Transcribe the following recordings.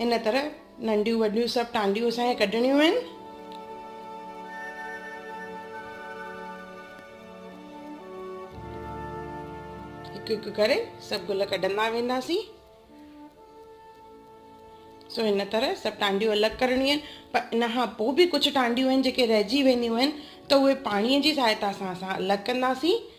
هن طرح ننڍيون وڏيون سڀ ٽانڊيون اسان کي ڪڍڻيون آهن. هڪ هڪ ڪري سڀ گل ڪڍندا وينداسين. سو هن طرح سڀ ٽانڊيون الڳ ڪرڻيون آهن پر ان کان پوء به ڪجهه ٽانڊيون آهن جيڪي رهجي وينديون آهن ته اهي پاڻيء جي سهائتا سان اسان الڳ ڪنداسين.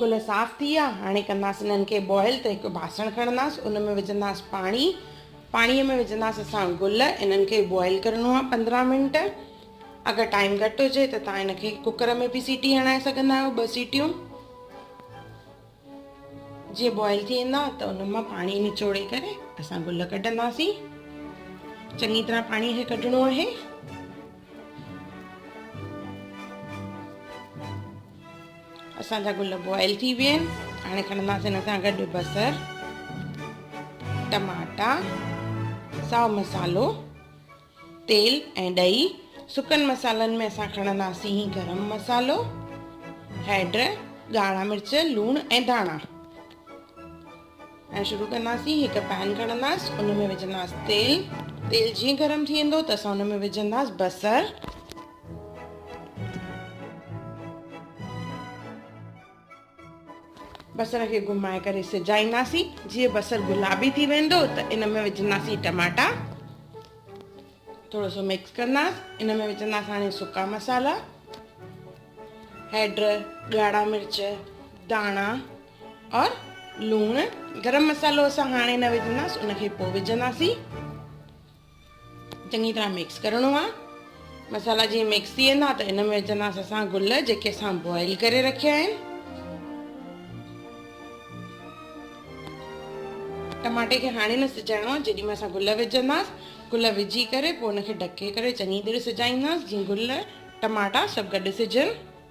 گل صاف ٿي ويا هاڻي ڪنداس انهن کي بوائل ته هڪ باسڻ کڻنداس ان ۾ وجهنداس پاڻي پاڻي ۾ وجهنداس اسان گل انهن کي بوائل ڪرڻو آهي پندرهن منٽ اگر ٽائيم گهٽ هجي ته تان ان کي ڪوڪر ۾ به سيٽي هڻائي سگهندا آهيو ٻه سيٽيون جي بوائل ٿي ويندا ته ان مان پاڻي نچوڙي ڪري اسان گل ڪڍنداسين چڱي طرح پاڻي کي ڪڍڻو آهي اسان جا گل بوائل ٿي ويا آهن هاڻي کڻنداسين هن سان گڏ بصر ٽماٽا ساو مسالو تيل ۽ ڏهي سڪن مسالن ۾ اسان کڻنداسين گرم مسالو هيڊ ڳاڙها مرچ لوڻ ۽ ڌاڻا ۽ شروع ڪنداسين هڪ پين کڻنداس ان ۾ وجهنداس تيل تيل جيئن گرم ٿي ويندو ته اسان ان ۾ وجهنداس بصر بصر کي گهمائي ڪري سجائينداسين جيئن بصر گلابي ٿي ويندو ته ان ۾ وجهنداسين ٽماٽا ٿورو سو مڪس ڪنداس ان ۾ وجهنداس هاڻي سڪا مسالا هيڊ ڳاڙها مرچ داڻا اور لوڻ گرم مصالحو اسان هاڻي نه وجهنداس ان کي پو وجهنداسين چڱي طرح مڪس ڪرڻو آ مصالحا جي مڪس ٿي ويندا ته ان ۾ وجهنداس اسان گل جيڪي اسان بوائل ڪري رکيا آهن ٽماٽي کي هاڻي نه سجائڻو آ جيڏي مهل اسان گل وجهنداس گل وجهي ڪري پو ان کي ڍڪي ڪري چڱي طرح سجائينداس جي گل ٽماٽا سڀ گڏ سجن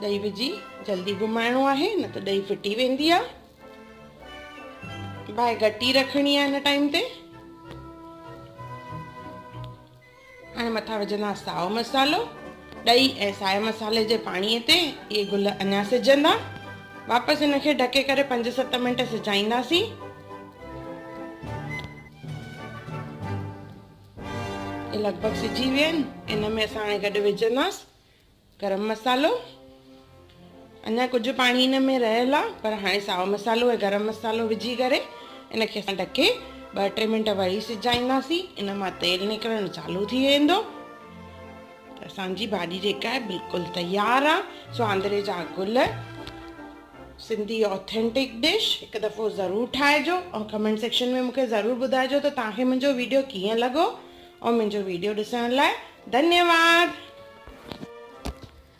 ڏهي وجهي جلدي گهمائڻو آهي نه ته ڏهي ڦٽي ويندي آهي باهه گهٽي رکڻي آهي هن ٽائيم تي هاڻي مٿان وجهندا ساو مسالو ڏهي ۽ سائي مسالي جي پاڻي تي اهي گل اڃا سجندا واپس هن کي ڍڪي ڪري پنج ست منٽ سجائينداسين لڳ ڀڳ سجي ويا آهن ان ۾ اسان هاڻي گڏ وجهنداس گرم مصالحو اڃا ڪجهه پاڻي ان ۾ رهيل آ پر هاڻي ساو مصالحو ۽ گرم مصالحو وجهي ڪري ان کي اسان ڍڪي ٻه ٽي منٽ وري سجائينداسين ان مان تيل نڪرڻ چالو ٿي ويندو اسان جي ڀاڄي جيڪا آهي بلڪل تيار آ سواندري جا گل سنڌي آٿينٽڪ ڊش هڪ دفعو ضرور ٺاهجو ۽ ڪمينٽ سيڪشن ۾ مونکي ضرور ٻڌائجو ته توهان کي منهنجو ويڊيو ڪيئن لڳو ۽ منهنجو ويڊيو ڏسڻ لاء ڌنيواد.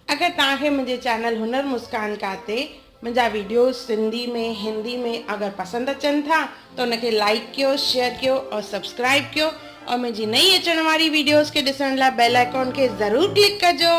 اگر توهان کي منهنجي چينل هنر مسڪان کا تي منهنجا ويڊيوز سنڌي ۾ هندي ۾ اگر پسند اچن ٿا ته ان کي لائيڪ ڪيو شيئر ڪيو ۽ سبسڪرائيب ڪيو ۽ منهنجي نئين اچڻ واري ويڊيوز کي ڏسڻ لاء بيل آئيڪون کي ضرور ڪلڪ ڪجو.